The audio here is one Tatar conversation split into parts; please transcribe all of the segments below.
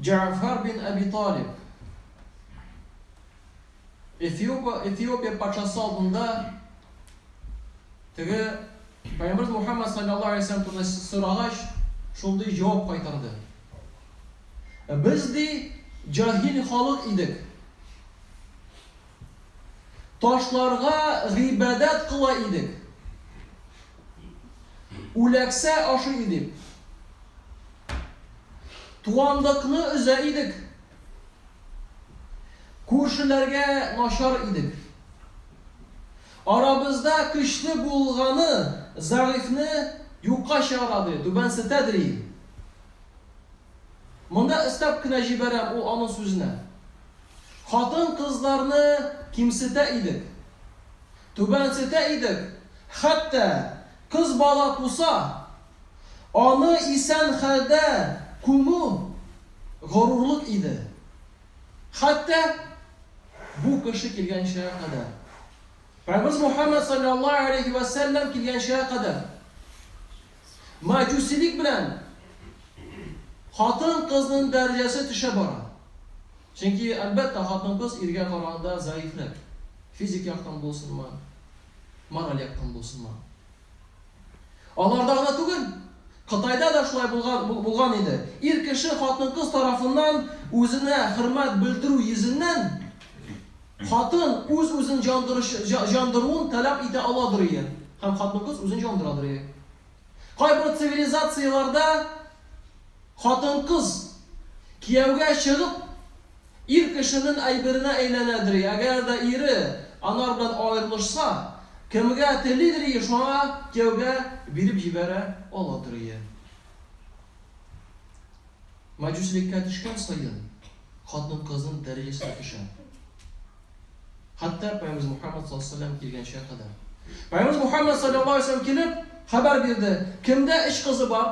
Җәгъфәр бин Әби Талиб Эфиопия патшасы алдында теге Пәйгамбәрбез Мухәммәд саллаллаһу алейһи ва сәлләм турында сорагач, шундый җавап кайтарды. Без ди җаһил халык идек. Ташларга гыйбадәт кыла идек. Үләксә ашый идек. Туанлыкны өзә идек. Күршеләргә начар идек. Арабызда көчле булганы зәгыйфьне юкка чыгара, ди, түбәнсетә, дри. Монда өстәп кенә җибәрәм ул аның сүзенә. Хатын-кызларны кимсетә идек. Түбәнсетә идек, хәтта кыз бала туса, аны исән хәлдә күмү горурлык иде. Хәтта бу кеше килгәнчегә кадәр, Раббыбыз Мухәммәд салләллаһу галәйһи вә сәлләм килгәнчегә кадәр, мәҗүсилек белән хатын-кызның дәрәҗәсе төшә бара. Чөнки, әлбәттә, хатын-кыз иргә караганда зәгыйфьрәк. Физик яктан булсынмы, мораль яктан булсынмы. Аларда гына түгел, Кытайда да шулай булган, булган иде. Ир кеше хатын-кыз тарафыннан үзенә хөрмәт белдерү йөзеннән, хатын үз-үзен җандырыш, җа, җандыруын таләп итә аладырые, һәм хатын-кыз үзен җандырадырые. Кайбер цивилизацияләрдә хатын-кыз кияүгә чыгып, ир кешенең әйберенә әйләнә дри, әгәр дә ире анар белән аерылышса, кемгә тели дри, шуңа кияүгә биреп җибәрә ала дри. Мәҗүсилеккә төшкән саен, хатын-кызның дәрәҗәсе дә төшә. Хәтта Пәйгамбәребез Мөхәммәд саллаллаһу галәйһи ва сәлләм килгәнчегә кадәр. Пәйгамбәребез Мөхәммәд саллаллаһу галәйһи ва сәлләм килеп, хәбәр бирде, Кемдә өч кызы бар,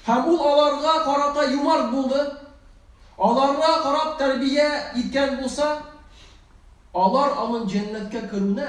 һәм ул аларга карата юмарт булды, аларга карап тәрбия иткән булса, алар аның җәннәткә керүенә,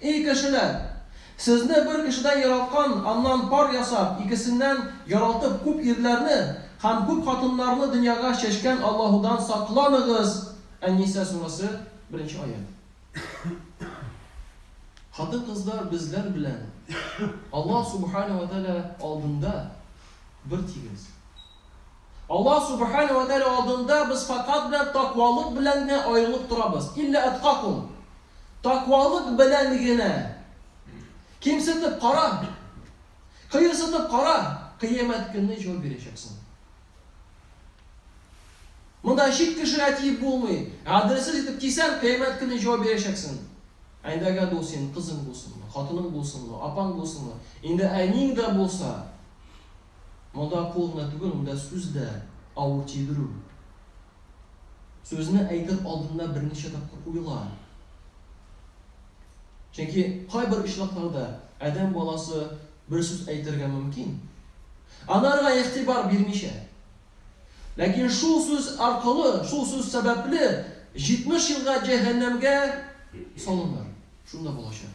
Эй кешеләр! Сезне бер кешедән яраткан, аннан пар ясап, икесеннән яралтып күп ирләрне һәм күп хатыннарны дөньяга чәчкән Аллаһудан сакланыгыз! Ән-Ниса сүрәсе, беренче аять. Хатын-кызлар безләр белән Аллаһ Субханә вә Тәгалә алдында бертигез. Аллаһ Субханә вә Тәгалә алдында без фәкать белән такъвалык белән генә аерылып торабыз. Илля әткакум. Такъвалык белән генә. Кимсетеп кара. Кыерсытып кара. Кыямәт көнне җавап бирәчәксең. Монда чит кешегә тиеп булмый. Гаделсез итеп тисәң, кыямәт көнне җавап бирәчәксең. Әйдәгә дул син, кызың булсынмы, хатының булсынмы, апаң булсынмы, инде әниң дә булса, Монда кул гына түгел, монда сүз дә авыр тидерү. Сүзне әйтер алдында берничә тапкыр уйла. Чөнки кайбер очракларда адәм баласы бер сүз әйтергә мөмкин, анарга игътибар бирмичә. Ләкин шул сүз аркылы, шул сүз сәбәпле 70 елга җәһәннәмгә салыныр. Шунда булачак.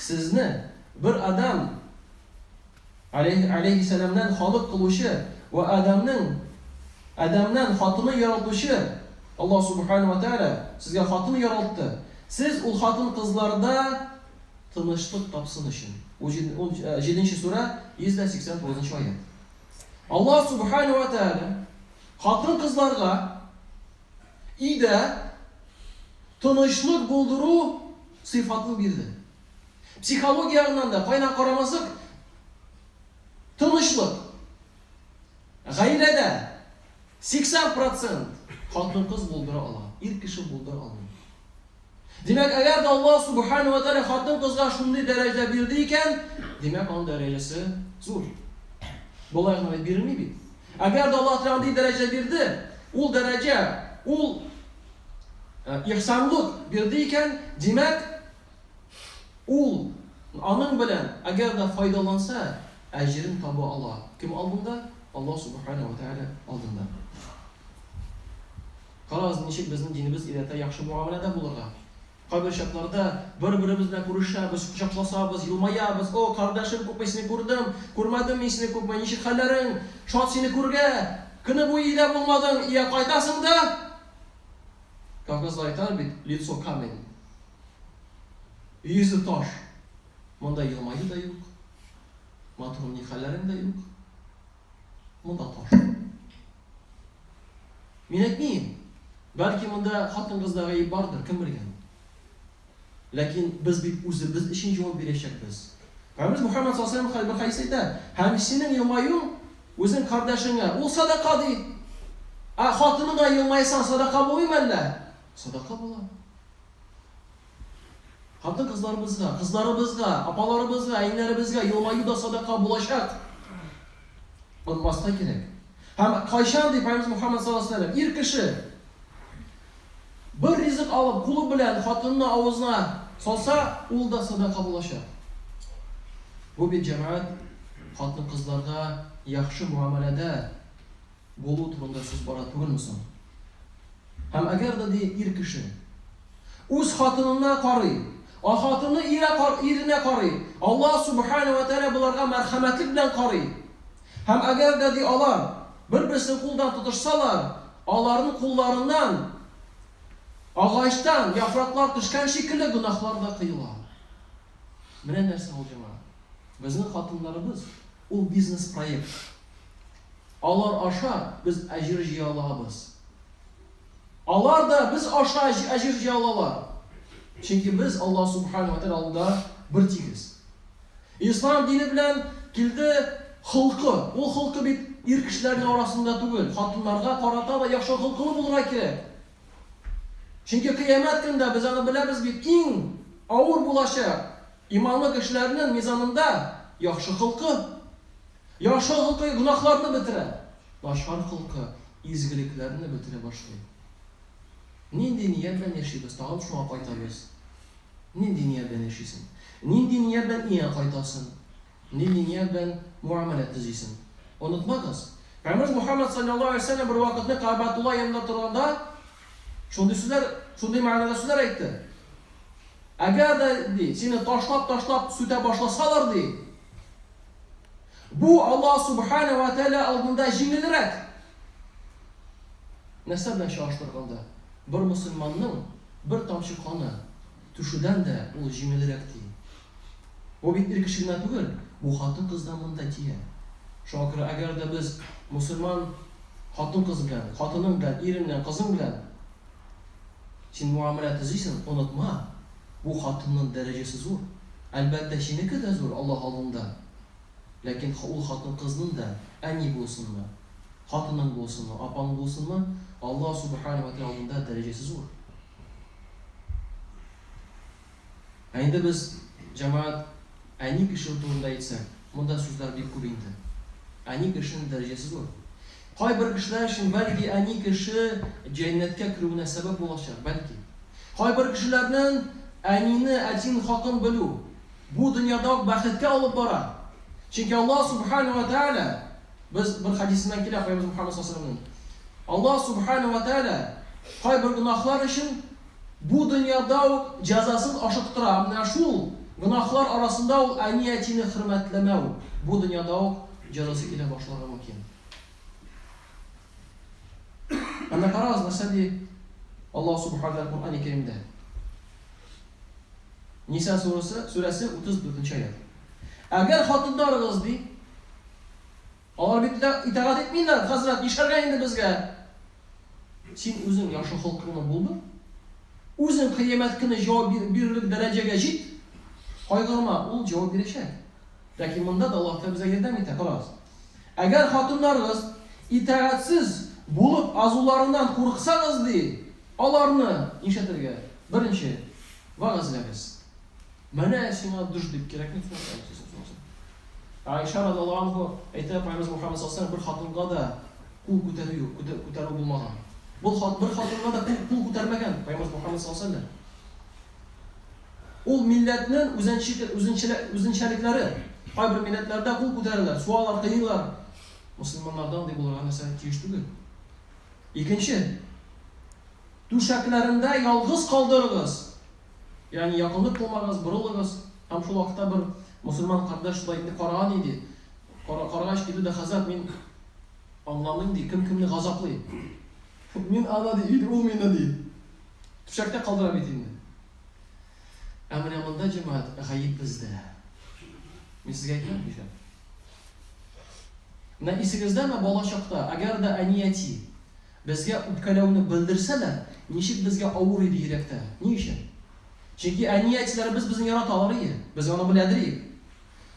Сезне, бер Адам, алейһи алейһиссәламнән халык кылучы, вә Адамның, Адамнан хатыны яралтучы, Аллаһ Субханаһу вә Тәгалә сезгә хатын яралтты, сез ул хатын-кызларда тынычлык тапсын өчен. Ун җиденче сүрә, 189 нчы аять. Аллаһ Субханаһу вә Тәгалә хатын-кызларга, И дә тынычлык булдыру сыйфатын бирде. Психология ягыннан да кайна карамасак, тынычлык. Гаиләдә 80% хатын-кыз булдыра ала, ир кеше булдыра алмый. Димәк, әгәр дә Аллаһ Субхана вә Тәгалә хатын-кызга шундый дәрәҗә бирде икән, димәк, аның дәрәҗәсе зур. Болай гына бирми бит. Әгәр дә Аллаһ Тәгалә андый дәрәҗә бирде, ул дәрәҗә, ул э, ихсанлык бирде икән, димәк, ул аның белән әгәр дә файдаланса, әҗерен таба ала. Кем алдында? Аллаһ Субхана вә Тәгалә алдында. Карагыз, ничек безнең динебез өйрәтә яхшы мөгамәләдә булырга. Кайбер чакларда бер-беребез белән күрешәбез, кочакласабыз, елмаябыз, О, кардәшем, күпме сине күрдем! Күрмәдем мин сине күпме! Ничек хәлләрең? Шат сине күргә! Көне буе өйдә булмадың, ия кайтасың да! Кавказлар әйтәләр бит, лицо камень. Йөзе таш. Монда елмаю да юк. Матурым, ни хәлләрең дә юк. Монда таш. Мин әйтмим. Бәлки монда хатын-кызда гаеп бардыр, кем белгән. Ләкин без бит үзебез өчен җавап бирәчәкбез. Рәббез Мөхәммәд саллаллаһу алейһи хәдис әйтә, һәм синең елмаюың үзең кардәшеңә, ул садака ди. Ә хатыныңа елмайсаң, садака булмыймы әллә? Садака була. Хатын-кызларыбызга, кызларыбызга, апаларыбызга, әниләребезгә елмаю да садака булачак. Онмаска кирәк. Һәм кайчан дип Пәйгамбер Мухаммад саллаллаһу алейһи ва сәлләм, ир кеше бер ризык алып, кулы белән хатынына авызына салса, ул да садака булачак. Бу бит җәмәгать хатын-кызларга яхшы муамәләдә булу турында сүз бара түгелме соң? Һәм әгәр дә, ди, ир кеше үз хатынына карый, а хатыны иренә карый, Аллаһ Субхана ва Тәгалә боларга мәрхәмәтлек белән карый. Һәм әгәр дә, ди, алар бер-берсен кулдан тотышсалар, аларның кулларыннан агачтан яфраклар төшкән шикелле гөнаһлар да кыела. Менә нәрсә ул җиңа. Безнең хатыннарыбыз ул бизнес-проект. Алар аша без әҗер җыя алабыз. Алар да без аша әҗер җыя алалар. Чөнки без Аллаһ Субхана ва Тәгалә алдында бертигез. Ислам дине белән килде холкы. Ул холкы бит ир кешеләрнең арасында түгел, хатыннарга карата да яхшы холкылы булырга кирәк. Чөнки кыямәт көндә без аны беләбез бит, иң авыр булачак, иманлы кешеләрнең мизанында яхшы холкы. Яхшы холкы гөнаһларны бетерә, начар холкы изгелекләрне бетерә башлый. Нинди ният белән яшибез, тагын шуңа кайтабыз. Нинди ният белән яшисең? Нинди ният белән өеңә кайтасың? Нинди ният белән муамәлә төзисең? Онытмагыз, Пәйгамбәребез Мухаммад саллаллаһу алейһи ва сәлләм бер вакытны Кәгъбәтулла янында торганда шундый сүзләр, шундый мәгънәдә сүзләр әйтте. Әгәр дә, ди, сине ташлап-ташлап сүтә башласалар, ди, Бу Аллаһ Субхана вә Тәгалә алдында җиңелрәк. Нәрсә белән чагыштырганда, бер мөселманның бер тамчы каны түшүдән дә ул җиңелрәк, ди. Бу бит ир кеше генә түгел, бу хатын-кыз да монда тия. Шуңа күрә, әгәр дә без мөселман хатын-кыз белән, хатының белән, ирең белән, кызың белән Син муамәлә төзисең, онытма, бу хатынның дәрәҗәсе зур. Әлбәттә, синеке дә зур Аллаһ алдында. Ләкин ул хатын-кызның да, әни булсынмы, хатының булсынмы, апаң булсынмы, Аллаһ Субханәһү вә Тәгалә алдында дәрәҗәсе зур. Ә инде без, җәмәгать, әни кеше турында әйтсәк, монда сүзләр бик күп инде. Әни кешенең дәрәҗәсе зур. Кайбер кешеләр өчен, бәлки, әни кеше җәннәткә керүенә сәбәп булачак, бәлки. Кайбер кешеләрнең әнине, әтине хакын белү, бу дөньяда ук бәхеткә алып бара. Чөнки Аллаһ Сүбхәнәһү вә Тәгалә, без бер хәдисеннән килә Пәйгамбәребез Мөхәммәд саллаллаһу алейһи ва сәлләмнең, Аллаһ Сүбхәнәһү вә Тәгалә кайбер гөнаһлар өчен Бу дөньяда ук җәзасын ашыктыра. Менә шул гөнаһлар арасында ул әни-әтине хөрмәтләмәү бу дөньяда ук җәзасы килә башларга мөмкин. Әнә карагыз, нәрсә ди Аллаһ Субхаһу ва Куръани Кәримдә. Ниса сурәсе, сурәсе 34 нче аят. Әгәр хатыннарыгыз ди, Алар бит лә итагать итмиләр, хәзрәт, нишләргә инде безгә? Син үзең яхшы холкыңны булдыр, үзең кыямәт көне җавап бирерлек дәрәҗәгә җит, кайгырма, ул җавап бирәчәк. Ләкин монда да Аллаһ та безгә ярдәм итә, карагыз. Әгәр хатыннарыгыз итагатьсез булып азуларыннан курыксагыз, ди, аларны нишләтергә? Беренче, вәгазьләгез. Менә сиңа душ дип кирәкми Айша радиаллаһу анху әйтә, Пайгамбарыбыз Мөхәммәд саллаллаһу бер хатынга да кул күтәрү юк, күтәрү булмаган. Бу хат бер хатынга да кул күтәрмәгән Пайгамбарыбыз Мөхәммәд саллаллаһу Ул милләтнең үзенчәлекләре. Кайбер милләтләрдә кул күтәрәләр, суалар, кыйлар. Мусламаннардан ди булырга нәрсә тиеш түгел. Икенче. Түшәкләрендә ялгыз калдырыгыз. Ягъни, якынлык кылмагыз, борылыгыз. Һәм шул вакытта бер мосылман кардәш шулай итне караган иде. Кара, карагач, диде дә, Хәзрәт, мин аңламыйм, ди, кем кемне газаплый? Мин аны, ди, ит ул мине, ди. Түшәктә калдыра бит инде. Ә менә монда, җәмәгать, гаеп бездә. Мин сезгә әйтәм, ди. Менә исегездәме, бала чакта, әгәр дә әни-әти Безгә үпкәләүне белдерсә дә, ничек безгә авыр иде йөрәктә. Ни өчен? Чөнки әни-әтиләребез безне яраталар иде, без аны беләдер идек.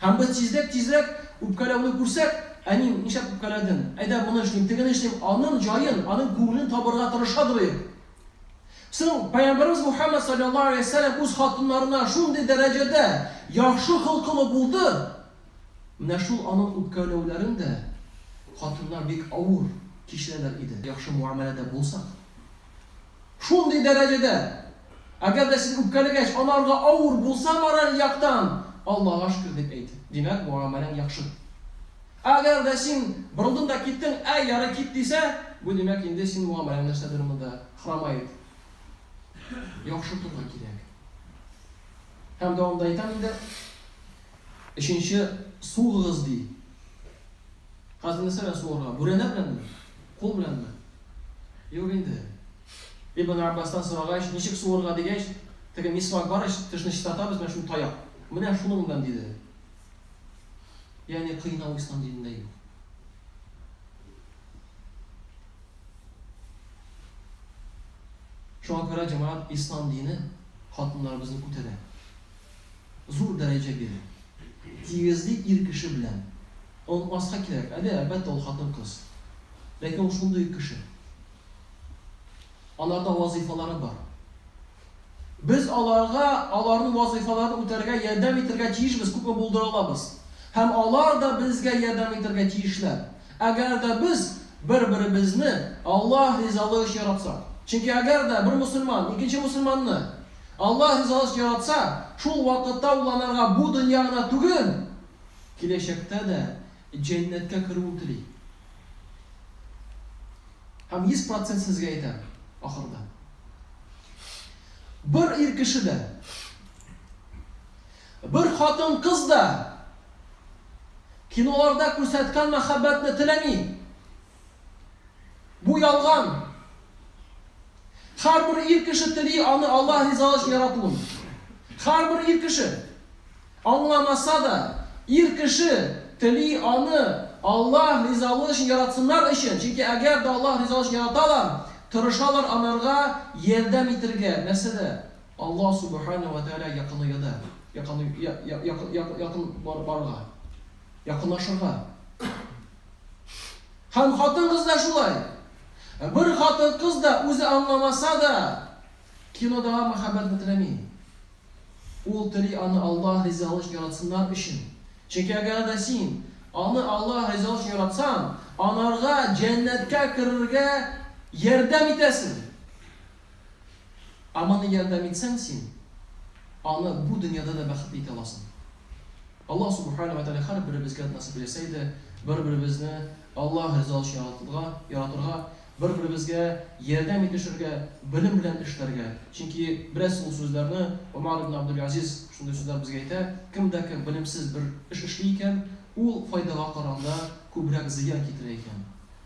Һәм без тизрәк-тизрәк үпкәләүне күрсәк, Әним, нишләп үпкәләдең? Әйдә, моны эшлим, тегене эшлим, аның җаен, аның күңелен табырга тырышадыр идек. Соң Пәйгамбәребез Мухәммәд салләллаһу галәйһи ва сәлләм үз хатыннарына шундый дәрәҗәдә яхшы холкылы булды, Менә шул аның үпкәләүләрен дә хатыннар бик авыр кичерәләр иде. Яхшы муамәләдә булсак. Шундый дәрәҗәдә, әгәр дә сез үпкәләгәч, анарга авыр булса мораль яктан, Аллага шөкер дип әйт. Димәк, муамәләң яхшы. Әгәр дә син борылдың да киттең, әй, ярый, кит, дисә, бу димәк, инде син муамәләң нәрсәдер монда хромает. Яхшы торырга кирәк. Һәм дәвамында әйтәм инде. Өченче, сугыгыз, ди. Хәзер нәрсә белән сугарга? Бүрәнә беләнме? Кул беләнме? Юк инде. Ибн Габбастан сорагач, ничек сугарга дигәч, теге мисвак бар ич, тешне чистартабыз, менә шул таяк. Менә шуның белән, диде. Ягъни кыйнау ислам динендә юк. Шуңа күрә, җәмәгать, ислам дине хатыннарыбызны күтәрә. зур дәрәҗә бирә. Тигезли ир кеше белән. Онытмаска кирәк, әйе, әлбәттә, ул хатын-кыз. Ләкин ул шундый ук кеше. Аларда вазыйфалары бар. Без аларга аларның вазыйфаларын үтәргә ярдәм итәргә тиешбез, күпме булдыра алабыз. Һәм алар да безгә ярдәм итәргә тиешләр, әгәр дә без бер-беребезне Аллаһ ризалыгы өчен яратсак. Чөнки әгәр дә бер мөселман икенче мөселманны. Аллаһ ризалашып яратса, шул вакытта ул анарга бу дөнья гына түгел, киләчәктә дә җәннәткә керүен тели. Һәм йөз процент сезгә әйтәм, ахырда бер ир кеше дә, бер хатын-кыз да киноларда күрсәткән мәхәббәтне теләми. Бу ялган. Һәрбер ир кеше тели аны Аллаһ ризалыгы өчен яратуын. Һәрбер ир кеше аңламаса да, ир кеше тели аны Аллаһ ризалыгы өчен яратсыннар өчен, чөнки әгәр дә Аллаһ ризалыгы өчен яраталар, тырышалар анарга ярдәм итергә, нәрсәдә? Аллаһ Субхана ва Тәгаләгә якынаюда, якын якын барырга, якынлашырга. Һәм хатын-кыз да шулай. Бер хатын-кыз да үзе аңламаса да, кинодагы мәхәббәт бетерәми. Ул тели аны Аллаһ ризалыгы өчен яратсыннар өчен. Чөнки әгәр дә син аны Аллаһ ризалыгы өчен яратсаң, анарга җәннәткә керергә ярдәм итәсең. Ә моны ярдәм итсәң, син аны бу дөньяда да бәхетле итә аласың. Аллаһ Субхана вә Тәгалә һәрберебезгә насыйп итсә иде, бер-беребезне Аллаһ риза өчен яратырга, яратырга, бер-беребезгә ярдәм итешергә, белем белән эшләргә. Чөнки беләсез ул сүзләрне, Омар ибн Абдул-Газиз шундый сүзләр безгә әйтә, кем дә кем белемсез бер эш эшли икән, ул файдага караганда күбрәк зыян китерә икән.